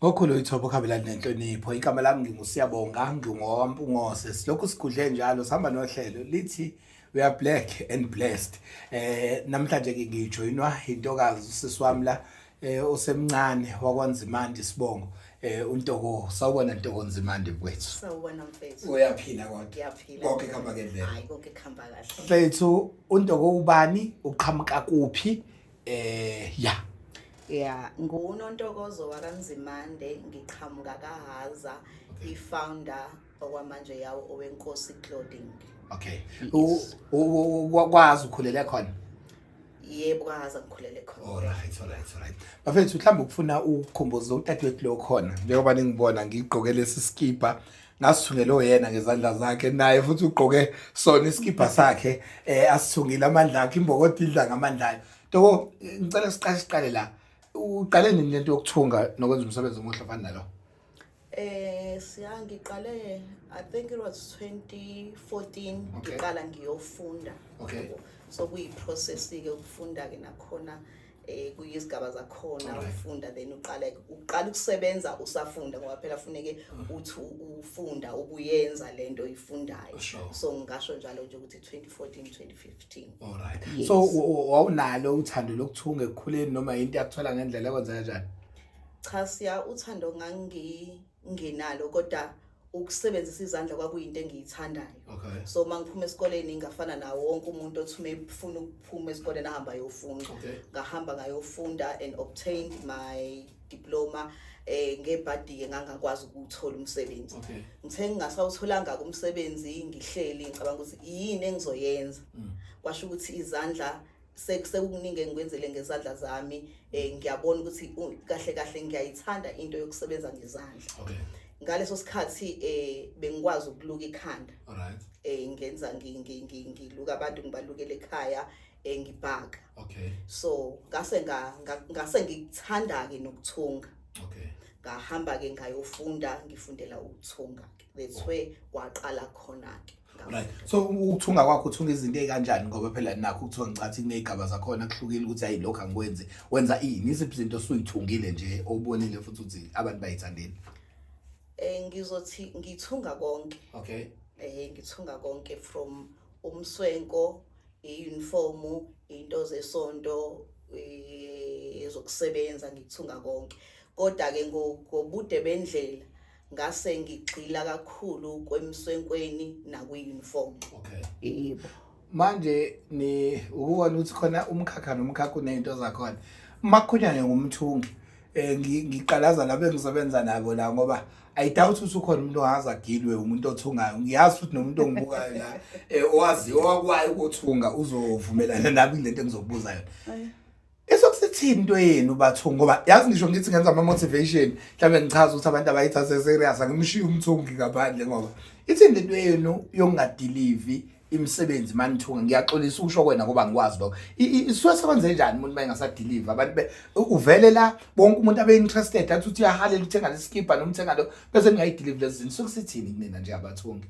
Ngokhulu ithobo khambelani nenhlonipho igama lami ngingusiyabonga ngingowampungose silokhu sigudle njalo sihamba nohlelo lithi we are black and blessed eh namhlanje ke ngijoinwa intokazi usisi wami la eh osemncane wakwanzimandi sibongo eh untoko sawubona ntoko nzimandi mfethu sawubona mfethu uyaphila kodwa ngiyaphila konke khamba ngendlela hayi konke khamba kahle mfethu untoko ubani uqhamuka kuphi Eh ya. Yeah, ngunontokozo wakanzimande ngiqhamuka kahaza i-founder okwamanje yawo owenkosi clothing Okay. U- u- u- Wakwazi ukhulele khona. yebo kahaza ngikhulele khona Alright, alright, alright. Bafethu mhlawumbe ukufuna ukukhumbuza udadewethu lo khona njengoba ningibona ngigqoke lesi skipa ngasithungele oyena ngezandla zakhe naye futhi ugqoke sona isikibha sakhe eh asithungile amandla akhe imbokoti idla ngamandla ayo toko ngicela siqale siqale la uqale nini lento yokuthunga nokwenza umsebenzi omuhle fana nalo eh siyangiqale i think it was 2014 ngiqala ngiyofunda okay so kuyi process ke ukufunda ke nakhona eh kuyizigaba zakhona ufunda then uqala uqala ukusebenza usafunda ngoba phela funeke uthi ufunda ubuyenza lento oyifundayo so ngasho njalo nje ukuthi 2014 2015 all right yes. so wawunalo uthando lokuthunga ekukhuleni noma into yakuthola ngendlela ekwenza kanjani cha siya uthando ngangi nginalo kodwa ukusebenzisa izandla kwakuyinto engiyithandayo okay. so uma ngiphuma esikoleni ngafana nawo wonke umuntu othi uma efuna ukuphuma esikoleni ahamba ayofunda okay. ngahamba ngayofunda and obtained my diploma eh ngebhadi-ke ngangakwazi ukuthola umsebenzi okay. ngithe ngingasawutholanga-ke umsebenzi ngihleli ngicabanga ukuthi yini engizoyenza mm. kwasho ukuthi izandla sekukuningi engikwenzele ngezandla zami um ngiyabona ukuthi kahle kahle ngiyayithanda into yokusebenza ngezandla okay ngaleso sikhathi eh bengikwazi ukuluka ikhanda alright eh ngenza ngiluka abantu ngibalukele ekhaya eh ngibhaka okay so ngase ngase ngikuthanda ke nokuthunga okay ngahamba ke ngayofunda ngifundela ukuthunga ke that's where kwaqala khona-ke right so ukuthunga kwakho uthunga izinto ezikanjani ngoba phela nakho kuthiwa ngicathi kunezigaba zakhona kuhlukile ukuthi hayi lokho angikwenzi wenza ini iziphi izinto osuyithungile nje obonile futhi ukuthi abantu bayithandeni eh ngizothi ngithunga konke okay eh ngithunga konke from umswenko i-uniform into zesonto eh, ezokusebenza ngithunga konke kodwa ke ngobude bendlela ngase ngigxila kakhulu kwemswenkweni nakwi-uniform okay yebo manje ni ukubona ukuthi khona umkhakha nomkhakha unezinto zakhona makhunyane ngumthungi eh ngiqalaza labo engisebenza nabo la ngoba i doubt ukuthi ukhona umuntu ongaza gilwe umuntu othungayo ngiyazi ukuthi nomuntu ongibukayo la eh, owazi owakwayo ukuthunga uzovumelana nami lento engizokubuza yona Esokusithini into yenu bathungu ngoba yazi ngisho ngithi ngenza ama motivation mhlawumbe ngichaza ukuthi abantu abayithathe serious angimshiyi umthungi ngaphandle ngoba ithini into yenu yokungadelivi imisebenzi manithunga ngiyaxolisa usho kwena ngoba ngikwazi lokho isuke sekwenze njani umuntu mayengasadeliver abantu be uvele la bonke umuntu abe interested athi uthi uyahalela uthenga lesikipa nomthenga lo bese ningayideliver lezi zinto sokusithini kunina nje abathungi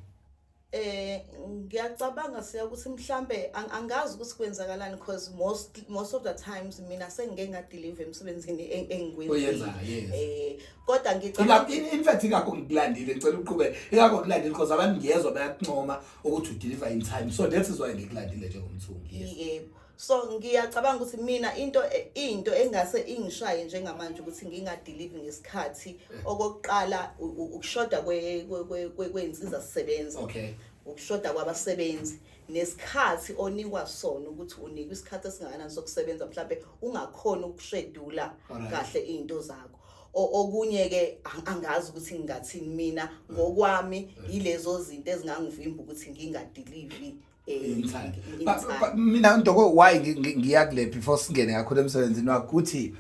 eh ngiyacabanga siya ukuthi mhlambe angazi ukuthi kwenzakalani because most most of the times mina sengike ngadeliver emsebenzini engikwenza eh kodwa ngicabanga in fact ingakho ngikulandile ngicela uqhube ingakho ngikulandile because abantu ngiyezwa bayakuncoma ukuthi udeliver in time so that is why ngikulandile njengomthungi yebo so ngiyacabanga ukuthi mina into into engase ingishaye njengamanje ukuthi ngingadelive ngesikhathi okokuqala ukushoda kwey'nsiza sisebenza okay ukushoda kwabasebenzi nesikhathi onikwa sona ukuthi unikwa isikhathi esingakanani sokusebenza mhlawumbe ungakhona ukushedula kahle iy'nto zakho okunye ke angazi ukuthi ngingathini mina ngokwami yilezo zinto ezingangivimba ukuthi ngingadelivi Insight. Ba- ba- ba- mina ndoko why ngi- ngi- ngiya kule before singene kakhulu emsebenzini wakho ukuthi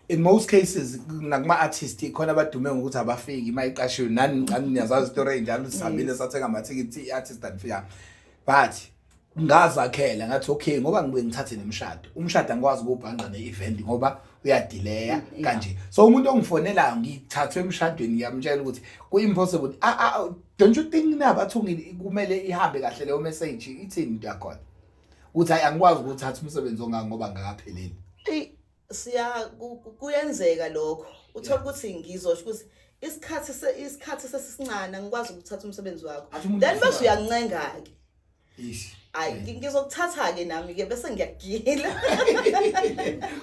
in most cases nakuma artist khona abadume ngokuthi abafiki uma iqashiwe nani ngicani niyazazi story enjalo sihambile sathenga amathikithi i-artist andifika but ngazakhela ngathi okay ngoba ngibuye ngithathe nemshado umshado angikwazi ukubhanqa ne-event ngoba uyadileya kanje so umuntu ongifonelayo ngithathwe emshadweni ngiyamtshela ukuthi ku-impossible a- a- don't you think nabathungile kumele ihambe kahle leyo message ithini into yakhona ukuthi hayi angikwazi ukuthatha umsebenzi ongaka ngoba ngakapheleli eyi siya ku- ku- kuyenzeka lokho uthola Yeah. ukuthi ngizosho ukuthi isikhathi se- isikhathi sesisincane angikwazi ukuthatha umsebenzi wakho Athi umuntu then bese usuka- uyancenga-ke Eish. Ay ngizokuthatha ke nami ke bese ngiyagila.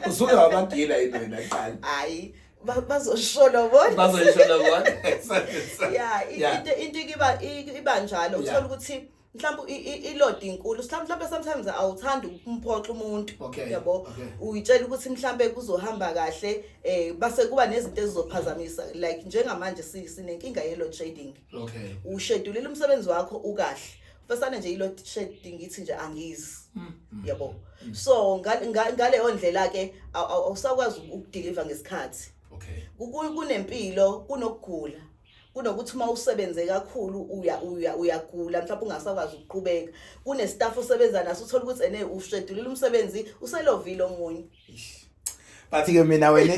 Usuke wabagila yini wena qala? Hayi bazoshola bona bazoshola bona yeah into into iba iba njalo uthola ukuthi mhlawumbe ilodi inkulu mhlawumbe sometimes awuthandi ukumphoxa umuntu yabo uyitshela ukuthi mhlawumbe kuzohamba kahle eh base kuba nezinto ezizophazamisa like njengamanje sinenkinga ye load shedding okay ushedulile umsebenzi wakho ukahle fasana nje ilo shedi ngithi nje angizi mm. mm. yabo mm. so ngaleyo ndlela ke awusakwazi ukudeliver ngesikhathi okay kunempilo kunokugula kunokuthi uma usebenze kakhulu uya uya uyagula mhlawumbe ungasakwazi ukuqhubeka kunestaff osebenza naso uthola ukuthi ene ushedulile umsebenzi uselovile omunye but ke mina wena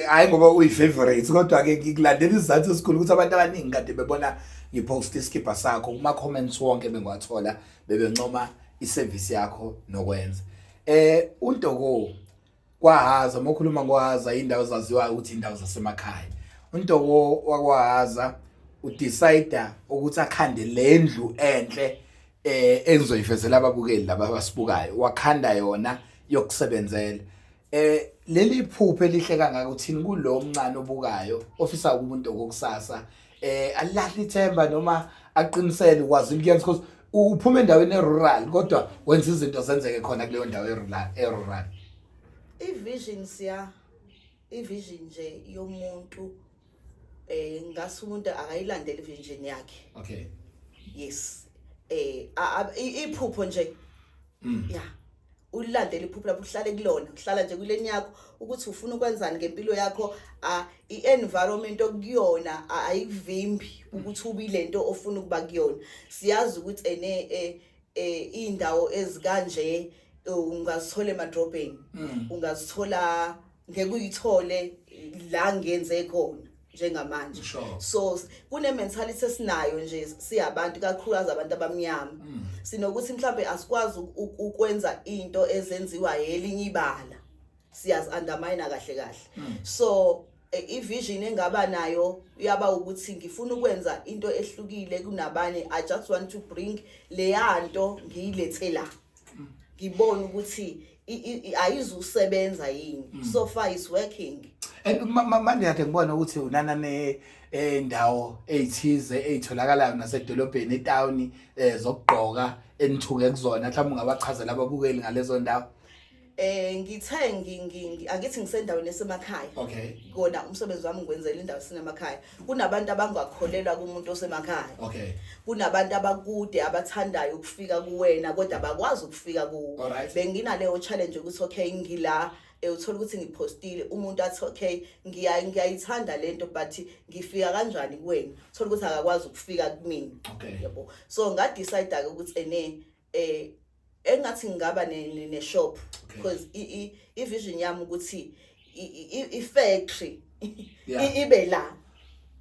hayi ngoba uyi-favorite kodwa-ke ngikulandela isizathu esikhulu ukuthi abantu abaningi kade bebona ngiphosta isikibha sakho kuma-comments wonke bengiwathola bebencoma isevisi yakho nokwenza eh untoko kwahaza uma ukhuluma ngohaza indawo zaziwayo ukuthi indawo zasemakhaya untoko wakwahaza udecide ukuthi akhande lendlu enhle eh engizoyivezela ababukeli laba abasibukayo wakhanda yona yokusebenzela eh leli phupho elihle kangaka uthini kulo mncane obukayo ofisa umuntu okokusasa eh alahle ithemba noma aqinisele ukwazi ukuyenza because uphuma endaweni erural kodwa wenza izinto zenzeke khona kuleyo ndawo erural erural i-vision siya i-vision nje yomuntu eh ngase umuntu akayilandele vision yakhe okay yes eh iphupho nje mm. yeah ulilandele iphupho lapho uhlale kulona uhlala nje kuleni yakho ukuthi ufuna ukwenzani ngempilo yakho i-environment okuyona ayivimbi ukuthi ubile nto ofuna ukuba kuyona siyazi ukuthi ene eh, eh indawo ezikanje ungazithola emadrobheni mm. ungazithola ngeke uyithole la ngenze khona njengamanje so kune mentality esinayo nje siyabantu kakhulukazi abantu abamnyama mm. sinokuthi mhlambe asikwazi ukwenza into ezenziwa yelinye ibala siyazi undermine kahle kahle mm. so ivision engaba nayo yaba ukuthi ngifuna ukwenza into ehlukile kunabanye i just want to bring leyanto ngiyilethe la ngibone ukuthi ayizusebenza yini mm. so far is working and manje kade ngibona ukuthi unana ne endawo eh, ezithize ezitholakalayo nasedolobheni etawuni eh, zokugqoka enithuke kuzona mhlawumbe ungabachazela ababukeli ngalezo ndawo eh ngithe ngi- ngi- ngi- angithi ngisendaweni esemakhaya Okay. kona umsebenzi wami ngiwenzela indawo sinemakhaya kunabantu abangakholelwa kumuntu osemakhaya Okay. kunabantu abakude abathandayo ukufika kuwena kodwa bakwazi ukufika kuwo Alright. benginaleyo challenge ukuthi okay ngila eh, uthola ukuthi ngiphostile umuntu athi okay ngiya- ngiyayithanda le nto but ngifika kanjani kuwena uthola ukuthi akakwazi ukufika kumina Okay. yabo so ngadecide-ke ukuthi ene eh engathi ngingaba ne, ne, ne shop because i, i, i vision yami ukuthi i, i, i- i factory Yeah. i- ibe la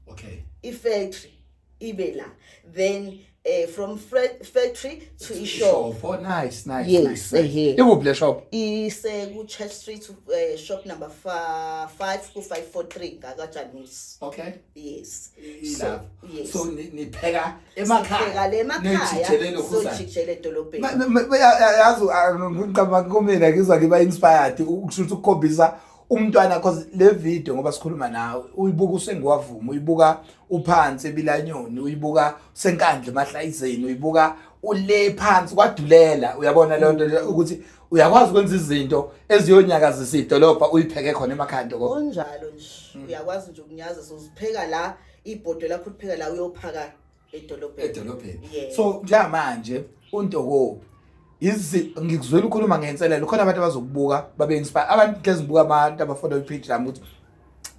okay i factory ibe la then eh from fra- factory to i shop oh nice nice Yes, nice, nice. ehe. ikuphi le shop ise ku church street eh, shop number 5 ku 543 ngaka Janus okay yes Ilapho. so yes so ni- nipheka emakhaya le emakhaya sojikjele edolobheni yazi ngicabanga kumina ngizwa ngiba inspired ukusho ukuthi ukukhombisa umntwana cause le video ngoba sikhuluma nawe uyibuka usengiwavuma uyibuka uphansi ebilanyoni uyibuka senkandla emahlayizeni uyibuka ule phansi kwadulela uyabona leyo nto ukuthi uyakwazi ukwenza izinto eziyonyakazisa idolobha uyipheke khona emakhanda konjalo nje uyakwazi nje ukunyaza sozipheka la ibhodwe lakho ulipheka la uyophaka edolobheni edolobheni Yeah. so njengamanje untokobi izi ngikuzwela ukhuluma ngenselelo khona abantu abazokubuka babe inspire abantu hlezi ngibuka abantu abafollow ipage lami ukuthi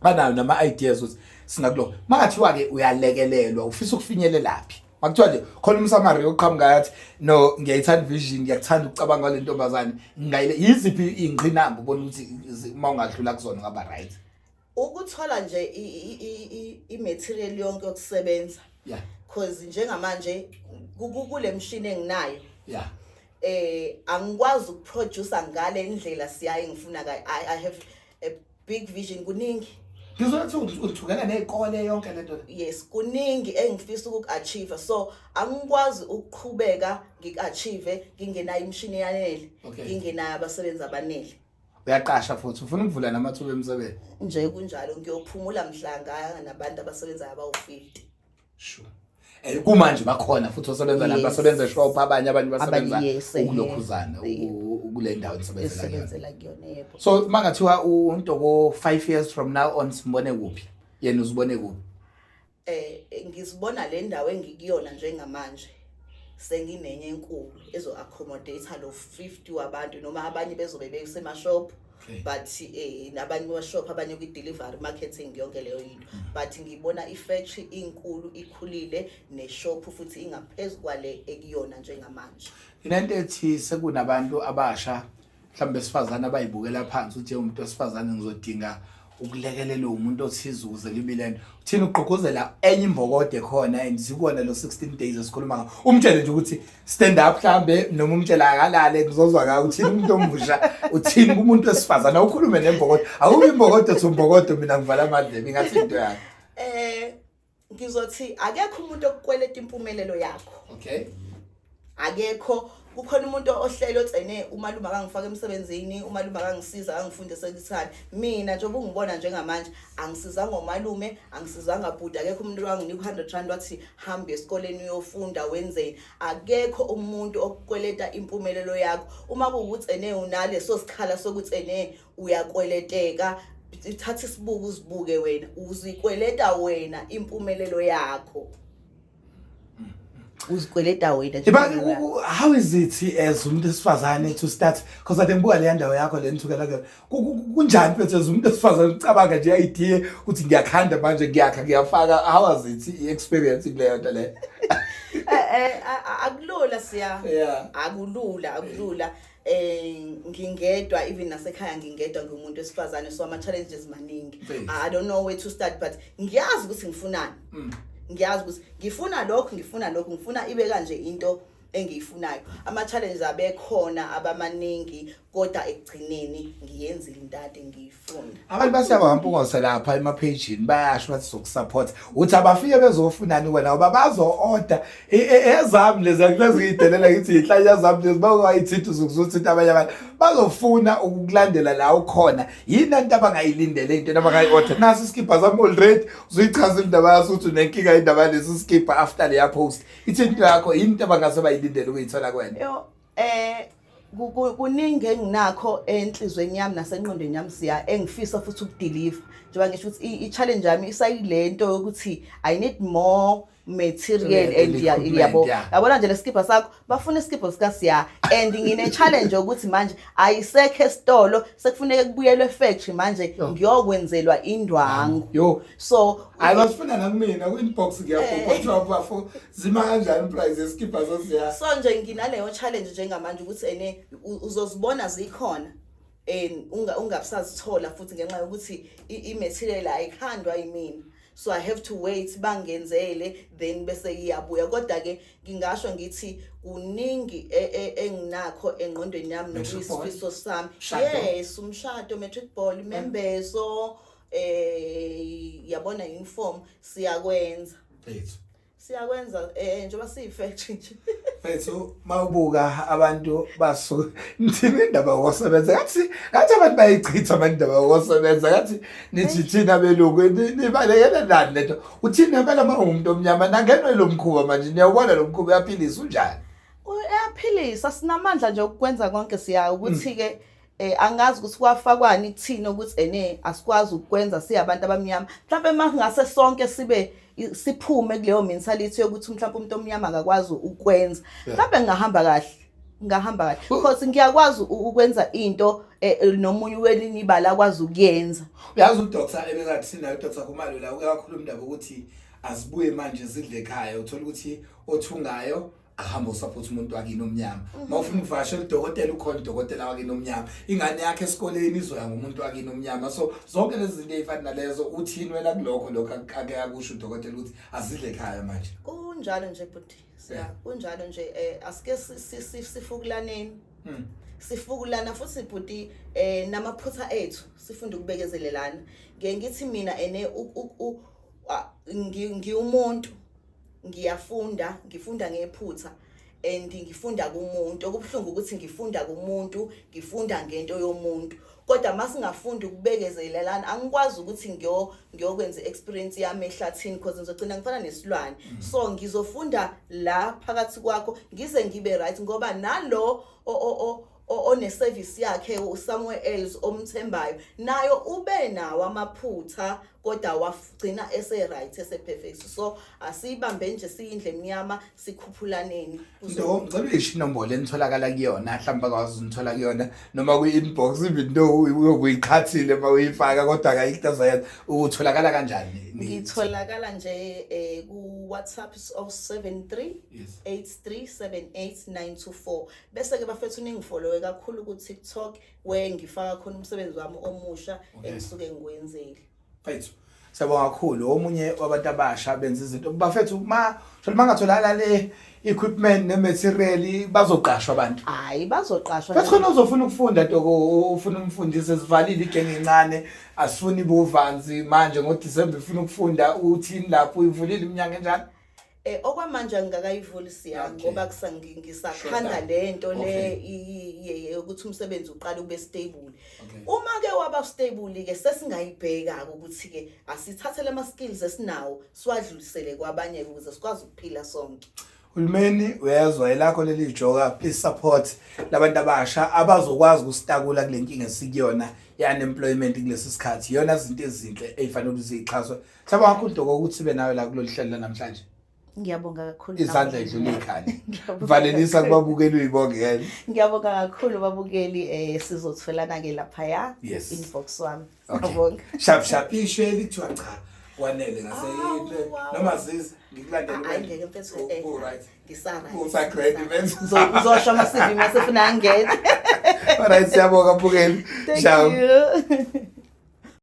banayo nama ideas ukuthi singakulo makathiwa ke uyalekelelwa ufisa ukufinyelelaphi makuthiwa nje khona umsamari oqhamuka yathi no ngiyayithanda vision ngiyakuthanda ukucabanga kwale ntombazane ngingayile yiziphi ingqinamba ubona ukuthi zi- uma ungadlula kuzona ngaba right ukuthola nje i-material yonke yokusebenza yeah cause njengamanje kule mshini enginayo yeah eh angikwazi ukuproducer ngale indlela siyaye ngifuna ka I, i have a big vision kuningi ngizothi uthukela nezikole yonke lento yes kuningi engifisa ukuachieve so angikwazi ukuqhubeka ngikachieve ngingenayo imshini yanele ngingenayo abasebenzi abanele uyaqasha futhi ufuna ukuvula namathuba emsebenzi nje kunjalo ngiyophumula mhlanga nabantu abasebenzayo abawu-50 sure Eh, kumanje bakhona futhi osebenza la Yes. basebenza eshop abanye abanye basebenza Abanye, yes, eh. ukulokhuzana Yebo. u- u- kule ndawo nisebenzela kuyona esebenzela kuyona yebo so mangathiwa untoko 5 years from now on simbone kuphi yena uzibone kuphi Eh ngizibona le ndawo engikuyona njengamanje senginenye enkulu ezo accommodate lo 50 wabantu noma abanye bezobe besema shop but eh nabanye wa shop abanye kwi delivery marketing yonke leyo into mm. but ngibona i factory inkulu ikhulile ne shop futhi ingaphezulu kwale ekuyona njengamanje lento ethi sekunabantu abasha mhlawumbe besifazane abayibukela phansi uthi umuntu wesifazane ngizodinga ukulekelelwa umuntu othize ukuze libe lento uthini ugqugquzela enye imbokode khona and sikona lo 16 days esikhuluma ngawo umtshele nje ukuthi stand up mhlambe noma umtshela akalale ngizozwa ngayo uthini umuntu omusha uthini kumuntu wesifazane awukhulume nembokode awubi imbokode uthi umbokode mina ngivala amadlebe ingathi into yakhe eh ngizothi akekho umuntu okukweleta impumelelo yakho okay akekho kukhona umuntu ohlele otsene umalume akangifaka emsebenzini umalume akangisiza akangifundisa lithani mina njengoba ungibona njengamanje angisizanga umalume angisizanga bhuti akekho umuntu wanginika u-hundred rand wathi hambe esikoleni uyofunda wenzeni akekho umuntu okukweleta impumelelo yakho uma kuwukuthi ene unaleso sikhala sokuthi ene uyakweleteka thatha isibuko uzibuke wena uzikweleta wena impumelelo yakho uzikweleta wena nje But u- u- how is it as umuntu esifazane to start because ade ngibuka leya ndawo yakho le nithukela kuyona Ku- ku- ku- kunjani mfethu as umuntu esifazane ucabanga nje idea ukuthi ngiyakhanda manje ngiyakha ngiyafaka how was it i-experience kuleyo nto leyo Eh, eh, a- a- akulula siya Yeah. akulula akulula eh ngingedwa even nasekhaya ngingedwa ngiwumuntu wesifazane so ama challenges maningi i don't know where to start but ngiyazi ukuthi ngifunani mm. ngiyazi ukuthi ngifuna lokho ngifuna lokho ngifuna ibe kanje into engiyifunayo ama challenges abekhona abamaningi kodwa ekugcineni ngiyenzile into ade ngiyifu abantu basiyaba ngampungoso lapha emaphejini bayasho bathi sokusupport uthi abafike bezofunani wena ngoba bazo-order e, e, ezami lezi akuleziyidelela ngithi yinhlanya zami lezi bakwayithinta uzukuzuthinta abanye abantu bazofuna ukukulandela la ukhona yini anto abangayilindele into into abangayi-order naso isikibha sami already uzuyichaza indaba yaso ukuthi unenkinga indaba yalesi sikibha after leya post ithi into yakho yini into abangase bayilindele ukuyithola kwena eh kuningi enginakho enhlizweni yami nasenqondweni yami siya engifisa futhi ukudeliver njengoba ngisho ukuthi i-challenge yami isayile nto yokuthi i need more material and yabo yabona nje lesikibha sakho bafuna isikibha sika siya and ngine challenge ukuthi manje ayisekho esitolo sekufuneka kubuyelwe factory manje ngiyokwenzelwa indwangu so hayi bafuna nakumina kwi-inbox ngiyabhubha kuthiwa bafo zima kanjani price yesikibha zosiya so nje nginaleyo challenge njengamanje ukuthi ene u- uzozibona zikhona and unga- ungabusazithola futhi ngenxa yokuthi i- i-material ayikhandwa yimina so i have to wait bangenzele then bese iyabuya kodwa-ke ngingasho ngithi kuningi e- e- enginakho engqondweni yami Matric ball? nokuyisifiso sami Shado? yes umshado matric ball imembezo eh yabona inform siyakwenza Phethu. siyakwenza eh njengoba siyifact nje Phethu mawubuka abantu basu ngithini indaba yokusebenza ngathi ngathi abantu bayichitha abantu indaba yokusebenza ngathi nithi thina belungu ni- nibalekela nani lento uthini impela uma ungumuntu omnyama nangenwe lo mkhuba manje niyawubona lo mkhuba uyaphilisa unjani uyaphilisa sinamandla nje okukwenza konke siya ukuthi ke eh angazi ukuthi kwafakwani kuthini ukuthi ene asikwazi ukwenza siyabantu abamnyama mhlawumbe masingase sonke sibe siphume kuleyo mentality yokuthi mhlawumbe umuntu omnyama akakwazi ukwenza mhlawumbe ngahamba kahle ngahamba kahle because ngiyakwazi ukwenza into eh, eh, nomunye welinye ibala akwazi ukuyenza uyazi udoctor ebengathi sinayo udoctor kumalo la uyakhuluma indaba ukuthi azibuye manje zidle ekhaya uthola ukuthi othungayo ahambe usupport umuntu wakini omnyama mhm. mawufuna ukuvakashela udokotela ukhona udokotela wakini omnyama ingane yakhe esikoleni izoya ngomuntu wakini omnyama so zonke lezi zinto ezifana nalezo uthini wena kulokho lokho ake akusho udokotela ukuthi azidle ekhaya manje kunjalo nje bhuti kunjalo nje eh asike sifukulaneni hmm. sifukulana futhi bhuti eh namaphutha ethu sifunda ukubekezelelana ngiye ngithi mina ene ngiwumuntu ngiyafunda ngifunda ngephutha and ngifunda kumuntu okubuhlungu ukuthi ngifunda kumuntu ngifunda ngento yomuntu kodwa masingafunda ukubekezelelana angikwazi ukuthi ngiyo ngiyokwenza experience yami ehlathini because ngizogcina ngifana nesilwane mm. so ngizofunda la phakathi kwakho ngize ngibe right ngoba nalo oneservice yakhe somewhere else omthembayo nayo ube nawo amaphutha kodwa wagcina ese right ese perfect so asiyibambe nje siyindle emnyama sikhuphulaneni no ngicela isho inombolo enitholakala kuyona mhlawumbe akwazi unithola kuyona noma kwi inbox even though uyokuyiqhathile uma uyifaka kodwa akayikutaza yena utholakala kanjani ngitholakala nje eh, ku WhatsApp 073 8378 924 bese ke bafethu ningifolowe kakhulu ku TikTok where ngifaka khona umsebenzi wami omusha Okay. engisuke ngiwenzile Fethu. Siyabonga kakhulu omunye wabantu abasha benza izinto. Bafethu uma sholo mangatholakala le equipment ne material bazoqashwa abantu. hayi bazoqashwa Bese khona uzofuna ukufunda toko ufuna umfundisi esivalile igenge incane asifuni buvanzi manje ngo December ufuna ukufunda uthini lapho uyivulile iminyango enjalo. Eh okwamanje angikakayivuli siya Okay. ngoba kusa- ngi- ngisakhanda Shoda. le nto le Okay. i- i- ye- ye- ukuthi umsebenzi uqale ube stable. Okay. Uma ke waba stable ke sesingayibheka ke ukuthi ke asithathele ama skills esinawo siwadlulisele kwabanye ukuze sikwazi ukuphila sonke. Hulumeni uyezwa elakho leli joka please support labantu abasha abazokwazi ukusitakula kulenkinga esikuyona yani employment kulesi sikhathi yona izinto ezinhle ezifanele ukuthi zixhaswe Siyabonga kakhulu Doko ukuthi sibe nawe la kulolu hlelo lanamhlanje. Ngiyabonga kakhulu. Izandla idlula ikhani. Valelisa kubabukeli uyibongela. Ngiyabonga kakhulu babukeli eh sizotholana ke lapha ya yes. inbox wami. Ngiyabonga. Okay. Shap shap ishwe lithiwa cha wanele ngase ah, noma zizi ngikulandele ah, ngeke mfethu oh, eh, oh, right ngisara usagrade mfethu uzosho ama CV mase funa angene all right siyabonga bukeli ciao